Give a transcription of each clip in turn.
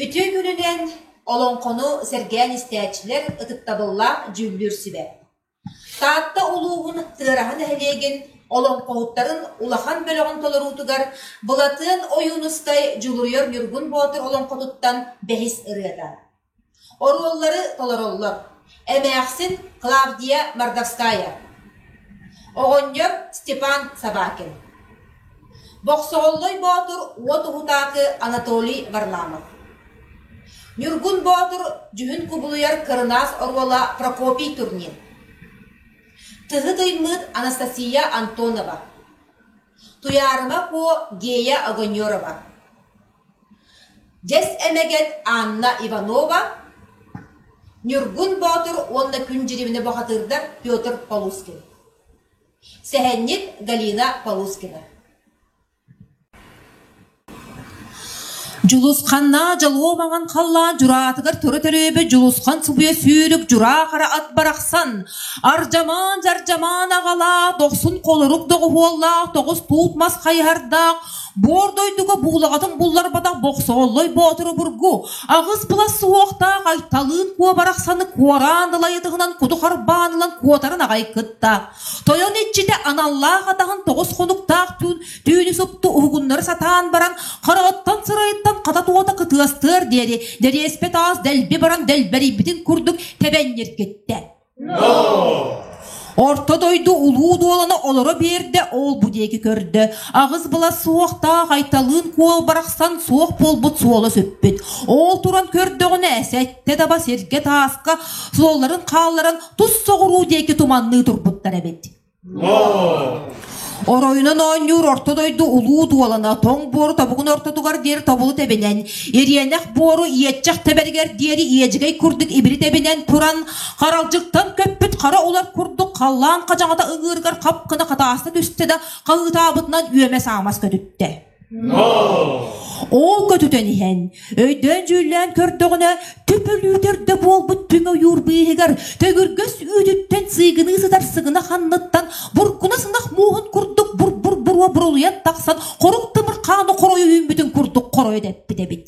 Үтүө күнүнэн олоҥхону сэргээн истээччилэр ытыктабыллаах дьүүллүүр сүбэ Таатта улууһун Тыараһа нэһилиэгин олоҥхоһуттарын улахан бөлөҕүн толоруутугар Былатыан Ойуунускай Дьулуруйар Ньургун Боотур олоҥхотуттан бэһис ырыата. Оруоллары толороллор: эмээхсин Клавдия Мордовская, оҕонньор Степан Собакин Бохсоһоллой Боотур уот уһутаакы Анатолий Варламов Ньургун Боотур дьүһүн кубулуйар кырынаас оруола Прокопий турнир Тыһы Тыймыыт Анастасия Антонова Туйаарыма Куо Гея Огонерова Дьэс эмэгет Анна Иванова Ньургун Боотур уонна күн дьириминэ бухатыырдар Петр Полускин Сэһэнньит Галина Полускина Дьулусханнаа дьолуо маҥан халлаан дьураатыгар тура төлөөбөт Дьулусхан субуйа сүүрүк дьураахара ат барахсан Ардьамаан дьардьамаан аҕалаах дохсун холорук доҕуһуоллаах тоҕус туут мас хайыһардаах Боор дойдуга буулаҕатын булларбатах Бохсооллой боотур обургу аҕыс былас суһуохтаах Айталыын куобарахсаны куораан ылайытыһынан куту харбаан ылан куотарын аҕай кытта. Тойон иччитэ аналлаах атаһын тоҕус хонуктаах түүн түүнү супту уһугуннары сатаан баран хараҕыттан сырайыттан хата туота кытыастыар диэри дэриэспэ таас дэлби баран дэлбэрийбитин курдук тэбэнньиргиттэ. Орто дойду улуу дуолана олоро биэрдэ ол-бу диэки көрдө. Аҕыс была суохтаах Айталыын куол барахсан суох буолбут суола сүппүт. Ол туран көрдөҕүнэ сэттэ таба сиргэ тааска суолларын хаалларан тус соҕуруу диэки туманныы турбуттар эбит. Оройунан оонньуур орто дойду улуу дуолана тоҥ буору тобугун ортотугар диэри тобулу тэбинэн, ириэнэх буору иэччэх тэбэригэр диэри иэдьигэй курдук ибири тэбинэн туран, харалдьыттан көппүт хара улар курдук халлаан хадьаҥата ыҥыырыгар хап гына хатааста түстэ да, хаһыытаабытынан үөмэс-аамас көтүттэ. Ол көтүтэн иһэн, өйдөөн-дьүүллээн көрдөҕүнэ, төпөлүүтэр да буолбут түҥ ойуур быыһыгар төгүргэс үүтүттэн сыыгыныы сытар сыгынах анныттан буркунас ынах мууһун курдук бур-бур буруо бурулуйан тахсан хоруҥ тымыр хааны хоройо үүммүтүн курдук хоройо дэппит эбит.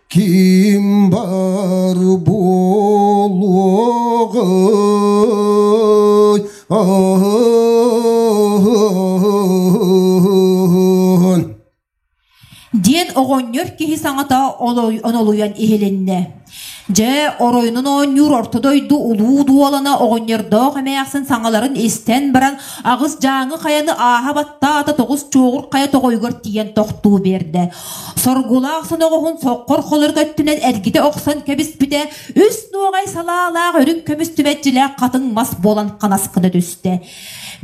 Ким бар буолуоҕуй диэн оҕонньор киһи саҥата онолуйан иһилиннэ. Дьэ, оройунун оонньуур орто дойду улуу дуолана оҕонньордоох эмээхсин саҥаларын истэн баран, аҕыс дьааҥы хайаны ааһа баттаата тоҕус чуоҕур хайа тоҕойугар тиийэн тохтуу биэрдэ. Соргулаах соноҕоһун соққор холор өттүнэн эргитэ охсон кэбиспитэ үс нуоҕай салаалаах үрүҥ көмүстүбэччилээх хатыҥ мас буолан ханаскына түстэ.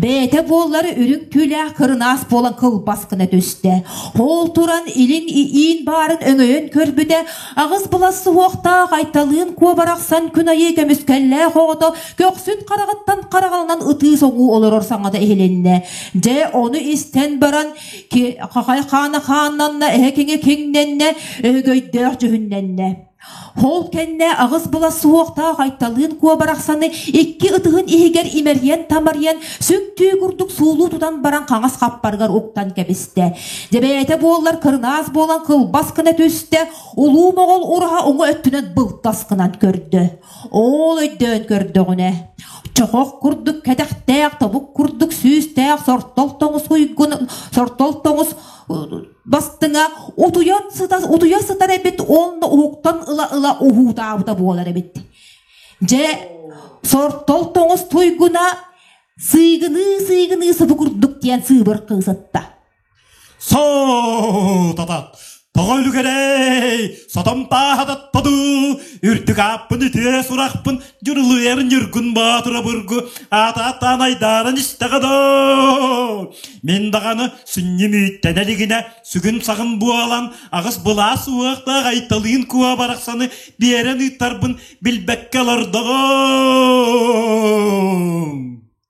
Бэйэтэ буоллар үрүҥ түүлээх кырынаас буолан кылбас гына түстэ. Ол туран илин иин баарын өҥөйөн көрбүтэ аҕыс былас суһуохтаах айталыын куобарахсан күн айыы көмүскэллээх оҕото көхсүн хараҕыттан хараҕынан ытыы соҥуу олорор саҥата иһилиннэ. Дьэ ону истэн баран хаана хааннанна, эһэ киҥэ киҥнэннэ, өһөгөйдөөх дьүһүннэннэ. Ол кэннэ аҕыс була суохтаах Айталыын куо барахсаны икки ытыһын иһигэр имэрийэн-тамарыйан сүҥтүү курдук суулуу тутан баран хаҥас хаппарыгар уктан кэбистэ. Дьэбээтэ буоллар кырынаас буолан кылбас гына түстэ, улуу моҕол ураһа уҥа өттүнэн былтас гынан көрдө. Оол өйдөөн көрдөҕүнэ, чохох курдук кэтэхтээх тобук курдук сүүстээх сортол тоҥус уйгунун сортол тоҥус бастыҥа утуйан сыта утуйа сытар эбит уонна уһуктан ыла-ыла уһуутаабыта буолар эбит. Дьэ, сортол тоҥус туйгуна сыйгыныы-сыйгыныы субу курдук диэн сыыбыр кыысытта. Соотата, тоҕо үлүгэрэй, сотом паахататта дуу, үрдүк ааппын үтүө сурахпын, дьырылыйарын ньыргун боотурабыргу, аата-ааттаан айдаанан истэҕэ доо. Мин даҕаны сүнньүм үүттэнэ илигинэ, сүгүн-саҕын буолан, аҕыс былаас уохтаах айталыын куо барахсаны биэрэн ыыттарбын билбэккэ олордоҕум.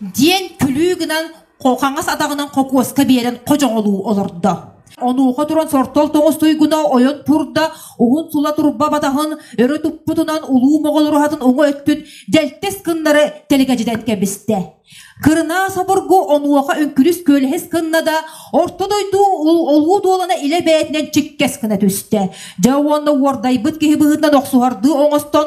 диэн күлүү гынан хаҥас атаҕынан хокуоска биэрэн хочоҕолуу олордо. Онуоха туран сортол тоҥус туйгуна ойон пурда уһун сула турба батаһын өрө туппутунан улуу моҕолуруһатын уҥу өттүн дэлтэс кыннары тэлгэдьитэн кэбистэ. Кырынаас обургу онуоха үҥкүлүс күөлэһис кынна да орто дойду олуу дуолана илэ бэйэтинэн чиккэс гына түстэ. Дьэ уонна уордайбыт киһи быһыытынан охсуһардыы оҥостон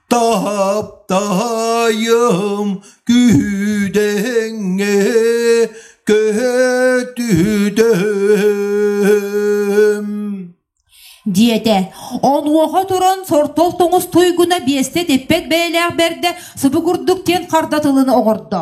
таптаайым күүдэҥҥэ көтүдэм диэтэ онуоха туран сортол тоҥус туйгуна биэстэ типпэт бэйэлээх бэрдэ субу курдук диэн харда тылын оҕордо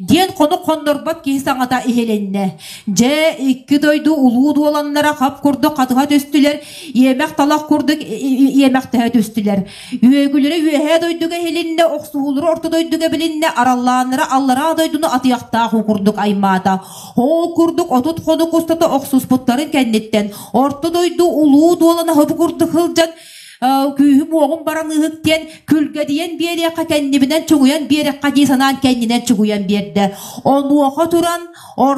диэн хонук хоннорбот киһи саҥата иһилиннэ. Дьэ, икки дойду улуу дуоланнара хап курдук хатыһа түстүлэр, иэмэх-талах курдук иэмэхтэһэ түстүлэр. Үөгүлэрэ үөһээ дойдуга иһилиннэ, охсуһуулара орто дойдуга билиннэ, араллааннара аллараа дойдуну атыахтаах уу курдук аймаата. Ол курдук отут хонук устата охсуспуттарын кэнниттэн орто дойду улуу дуолана хабы курдук сылдьан күүһүм-уоҕум баран ыыһык диэн күлгэдийэн биэриэххэ кэннибинэн чугуйан биэриэххэ дии санаан кэннинэн чугуйан биэрдэ онуоха туран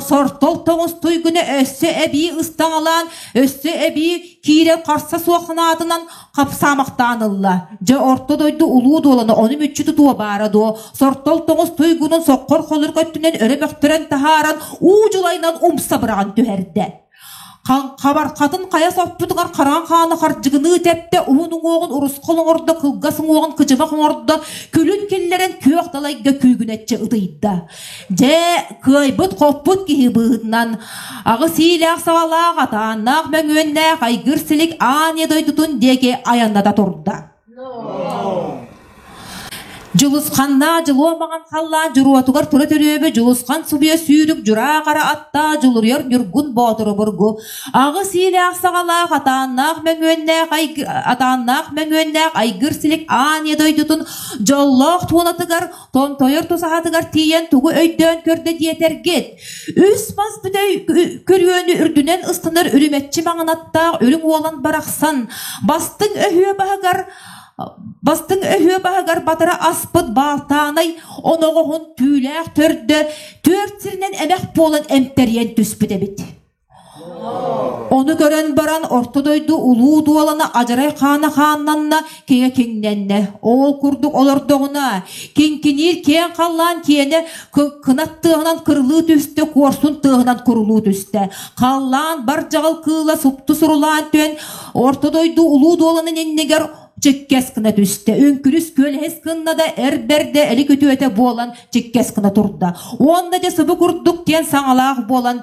сортол тоҥустуй гына өссө эбии ыстаҥалаан өссө эбии киирэн харса суох санаатынан хапсаамахтаан ылла дьэ орто дойду улуу дуолана ону мүччү тутуо баара дуо сортол тоҥус туйгунун соққор холурук өттүнэн өрө мөхтөрөн таһааран уу дьулайынан умса быраҕан түһэрдэ Хабархатын хайа соппутугар хараҥа хааны хардьыгыныы тэптэ, уһун уҥуоҕун урусхал оҥордо, кылгас уҥуоҕун кычымах оҥордо, күлүн киллэрэн күөх далайга күүгүнэччи ытыйда. Дьэ, кыайбыт-хоппут киһи быыһынан аҕыс иилээх-саҕалаах, атааннаах мөҥүөннээх айгыр силик аан ийэ дойдутун диэки айанната турда. Дьулусханнаах дьылуомаҕын халлаан дьуруотугар тура төрөөбө Дьулусхан субуйа сүүрүк дьураахара аттаа дьулуруйар Ньургун Боотур обургу аҕыс иилээх саҕалаах атааннаах мөҥүөннээх атааннаах мөҥүөннээх айгыр силик ааньа дойдутун дьоллоох туонатыгар томтойор тусаһатыгар тиийэн тугу өйдөөн көрдө диэтэргит Үс мас бүтэй көрүөнү үрдүнэн ыстанар үрүмэччи маҥанаттаах үрүҥ уолан барахсан, бастыҥ өһүө баһыгар бастыҥ өһүө баһыгар батара аспыт баалтаанай оноҕоһун түүлээх төрдө төрт сиринэн эмэх буолан эмтэрийэн түспүт эбит. Ону көрөн баран орто дойду улуу дуолана адьарай хаана хааннанна, киһэ киҥнэннэ. Оол курдук олордоҕуна, киҥкиниир киэҥ халлаан киэнэ кынат тыаһынан кырылыы түстэ, куорсун тыаһынан курулуу түстэ. Халлаан бар дьаҕал кыыла супту сурулаан түһэн, орто дойду улуу дуоланын иннигэр чиккэс гына түстэ. Үҥкүрүс күөлэһис кынна да эр бэрдэ элик үтүөтэ буолан чиккэс гына турда. Уонна дьэ сыбы курдук диэн саҥалаах буолан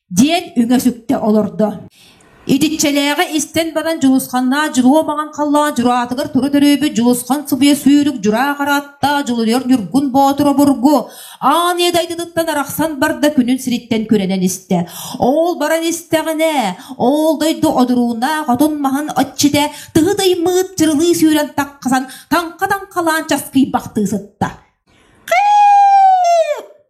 диэн үҥэ-сүктэ олордо итиччэлээҕи истэн баран дьулусханнаах дьулуо маҥан халлаан дьураатыгар тура төрөөбүт дьулусхан субуйа сүүрүк дьураах аратта дьулуйар ньургун боотур обургу аан ийэ дайдытыттан арахсан барда күнүн сириттэн күрэнэн истэ ол баран истэҕинэ ол дойду одуруунаах отун маһын отчитэ тыһы даймыыт чырылыы сүүрэн тахсан таҥха таҥхалаан часкыйбахтыы сытта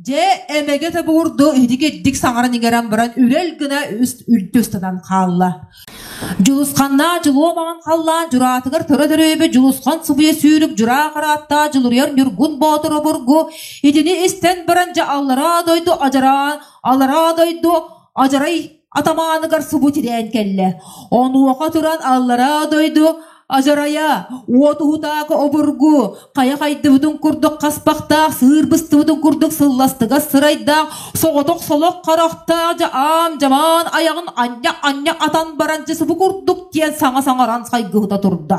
Дьэ, эмэгэ тобуурду иһитик итдик саҥаран иҥэрэн баран үрэл гына үст үлтү ыстатан хаалла. Дьулусханнаа дьулуо маҥан халлаан дьураатыгар төре төрөөбө Дьулусхан субуйа сүүрүк дьураа харааттаа дьулуруйар Ньургун Боотур обургу итини истэн баран дьэ аллараа дойду адьараан аллараа дойду адьарай атамааныгар субу тирээн кэллэ онуоха туран аллараа дойду адьарайа уот уһутаакы обургу хайа хайдыбытын курдук хаспахтаах сыыр быстыбытын курдук сылластыгас сырайдаах соҕотох солох харахтаах дьа аам дьамаан аяҕын анньа анньа атан баран дьэ субу курдук диэн саҥа саҥаран сайгыһыта турда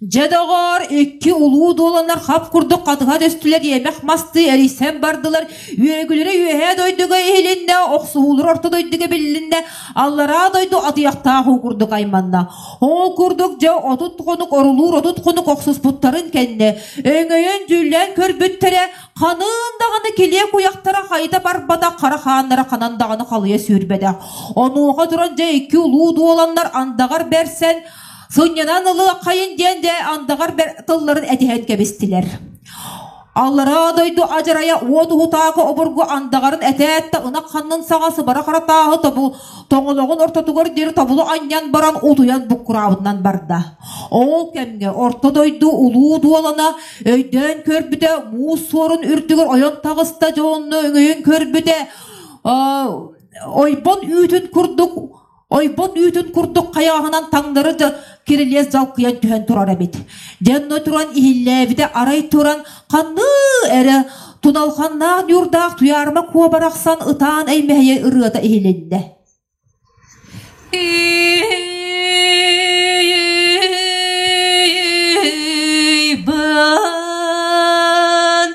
Дьэ, доҕоор, икки улуу дуоланар хап курдук хатыһа түстүлэр, иэмэх мастыы эрийсэн бардылар, үөгүлэрэ үөһээ дойдуга иһилиннэ, охсуһуулар орто дойдуга биллиннэ, аллараа дойду атыйахтаах уу курдук айманна. Ол курдук дьэ отут хонук орулуур отут хонук охсуспуттарын кэннэ өҥөйөн дьүүллээн көрбүттэрэ ханыын даҕаны килиэ куйахтара хайыта барбатах хара хааннара ханан даҕаны халыйа сүүрбэтэх. Онуоха туран дьэ икки улуу дуоланнар андаҕар бэрсэн Сунньанан ылыаххайын диэн дэ андаҕар тылларын этиһэн кэбистилэр. Аллараа дойду адьырайа уот уһутаакы обургу андаҕарын этээт да ынах ханнын саҕа сыбара харатааһы тобу тоҥолоҕун ортотугар диэри тобулу анньан баран утуйан буккураабытынан барда. Ол кэмҥэ орто дойду улуу дуолана өйдөөн көрбүтэ муус суорун үрдүгэр ойон таҕыста дьонно өҥөйөн көрбүтэ ойбон үүтүн курдук ойбон үүтүн курдук хайааһынан таҥнары да кирилиэс дьалкыйан түһэн турар эбит. Дьонно туран иһиллээбитэ арай туран ханныы эрэ туналханнаах ньуурдаах туйаарма куобарахсан ытаан эймэһийэ ырыата иһилиннэ. Бан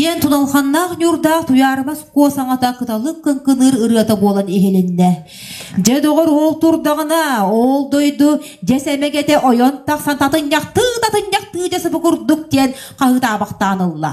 диэн тулалханнаах ньуурдаах Туйаарыбас куо саҥата кыталык кыҥкыныыр ырыата буолан иһилиннэ. Дьэ доҕор уол турдаҕына, ол дойду дьэс эмэгэтэ ойон тахсан татынньахтыы татынньахтыы дьэ сыбы курдук диэн хаһыытаабахтаан ылла.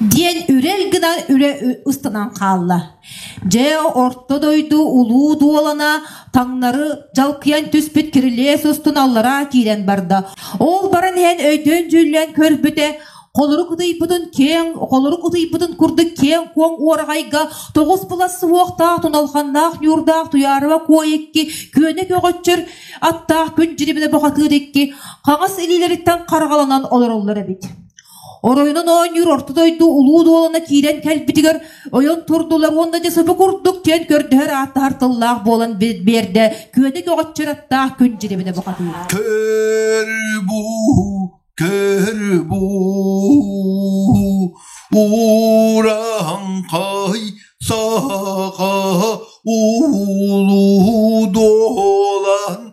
диэн үрэл гынан үрэ ыстанан хаалла. Дьэ орто дойду улуу дуолана таҥнары жалкыйан түспүт кирилиэс устун аллараа киирэн барда. Ол баран иһэн өйдөөн дьүллэн көрбүтэ холорук утуйбутун киэҥ холорук утуйбутун курдук киэҥ куоҥ уораҕайга тоҕус былас суһуохтаах туналханнаах ньуурдаах туйаарыба куо икки күөнэ көҕөччөр аттаах күн дьирибинэ бухатыыр икки хаҥас илиилэриттэн харҕаланан олороллор эбит Оройунан оонньуур орто дойду улуу дуолана киирэн кэлбитигэр ойон турдулар уонна дьэ сыпы курдук чиэн көрдөһөр ааттаһар тыллаах буолан биэрдэ күөнэ көҕөччөр аттаах күн дьирибинэ бухатыыр. Көр буу көр буу Уран қай сақа улу долан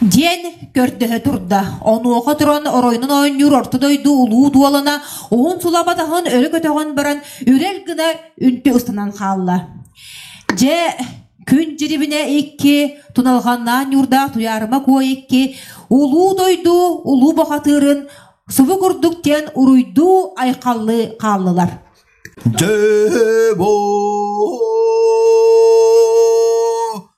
диэн көрдөһө турда. Онуоха туран оройунан оонньуур орто дойду улуу дуолана уһун сула батаһын өрө көтөҕөн баран үрэл гына үнтү ыстанан хаалла. Дьэ күн дьирибинэ икки, туналҕаннаан ньуурдаах туйаарыма куо икки, улуу дойду улуу бахатыырын субу курдук диэн уруйдуу айхаллыы хааллылар. Дьэ бо